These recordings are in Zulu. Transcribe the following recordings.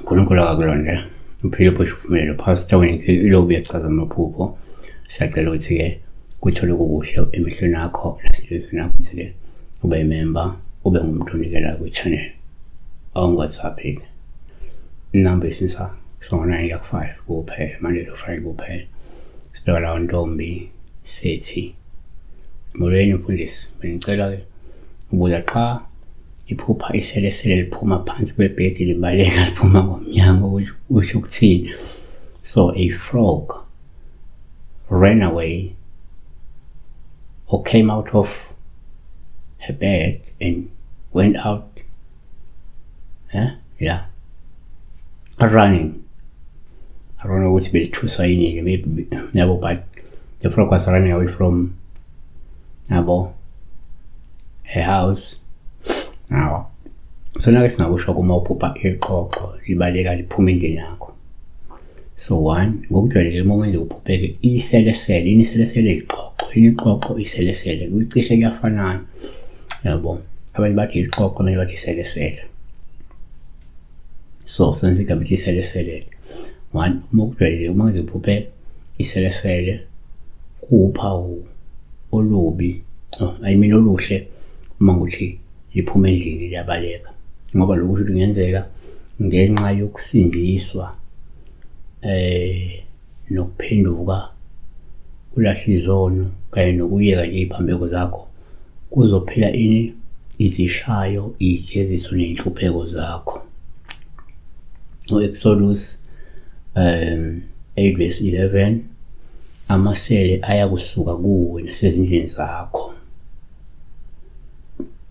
uNkulunkulu akakulonde uphile uphosha uphumelelo pastor wena iloku uyachaza amaphupho siyacela ukuthi-ke kuthole kukuhle emehlweni akho nasenhlizweni yakho ukuthi-ke ube imemba ube ngumuntu onikelayo kwi-channel awungi-whatsapp-ke inamba isisa sona iyakufive kuphela monday to friday kuphela sibheka lawo ntombi sethi molweni mfundisi benicela ke ubuya qha iphupha iselesele liphuma phansi kwebhedi libaleka liphuma ngomnyango usho ukuthini so a frog ran away or came out of her bed and went out eh yeah running I don't know ukuthi belithuswa yini ke maybe yabo but the frog was running away from yabo a house awa sona ke singakusho kuma uphupha ixoxo libaleka liphuma endlini yakho so one ngokujwayelekile uma kwenza kuphupheke iselesele yini iselesele ixoxo yini ixoxo iselesele kucishe kuyafanana yabo abanye bathi ixoxo abanye bathi iselesele so senza igama lithi iselesele one uma kujwayelekile uma kwenza kuphupheke iselesele kuwuphawu olubi oh, I mean oluhle uma ngithi liphuma endlini liyabaleka ngoba lokhu ukuthi kungenzeka ngenxa yokusindiswa eh nokuphenduka ulahle izono kanye nokuyeka nje iphambeko zakho kuzophela ini izishayo ijeziso nezinhlupheko zakho uExodus um 8 verse 11 amasele ayakusuka kuwe nasezindlini zakho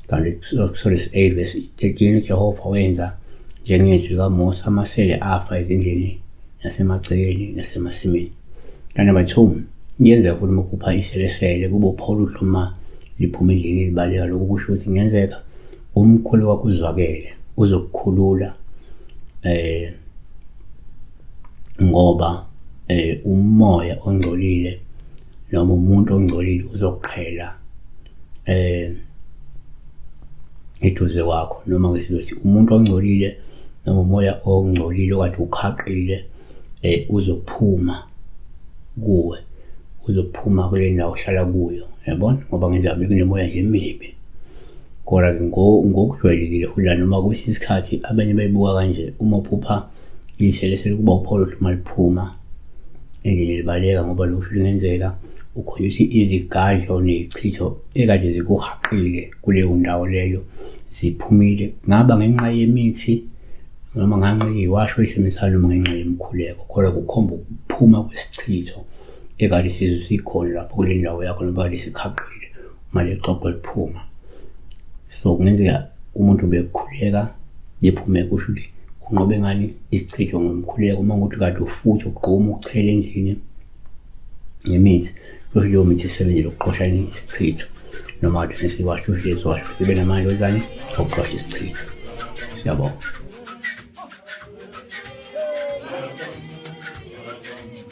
kanti kusole si-8 vesi 13 ujehova wenza njengezwi likamosa amasele afa ezindlini nasemagcekeni nasemasimini kanti number two kuyenzeka futhi uma uphupha iselesele kube upha oluhle uma liphuma endlini elibaleka lokhu kusho ukuthi kungenzeka umkhulu wakho uzwakele uzokukhulula eh ngoba eh umoya ongcolile noma umuntu ongcolile uzoqhela eh eduze kwakho noma ngesizothi umuntu ongcolile noma umoya ongcolile okade ukhaqile eh uzophuma kuwe uzophuma kule ndawo ohlala kuyo yabona ngoba ngenza bekunemoya nje emibi kodwa ngokujwayelekile futhi noma kusisikhathi abanye bayibuka kanje uma uphupha Ngihlele selikuba upholo hluma liphuma endlini libaleka ngoba lokhu kungenzeka ukhona ukuthi izigadlo nezichitho ekade zikuhaqile kuleyo ndawo leyo ziphumile ngaba ngenxa yemithi noma nganxa iwasho isemisana noma ngenxa yemkhuleko kodwa kukhomba ukuphuma kwesichitho ekade sikhona lapho kule ndawo yakho noma kade sikhaqile uma leli xoxo liphuma so kungenzeka umuntu bekukhuleka liphume kusho ukuthi kunqobe ngani isichitho ngomkhuleko uma ukuthi kade ufuthi ugquma ukuchela endlini ngemithi kusho leyo mithi isebenzele ukuqosha isichitho noma kade sesiwasho kusho leziwasho sibe namandla wezani okuqosha isichitho siyabonga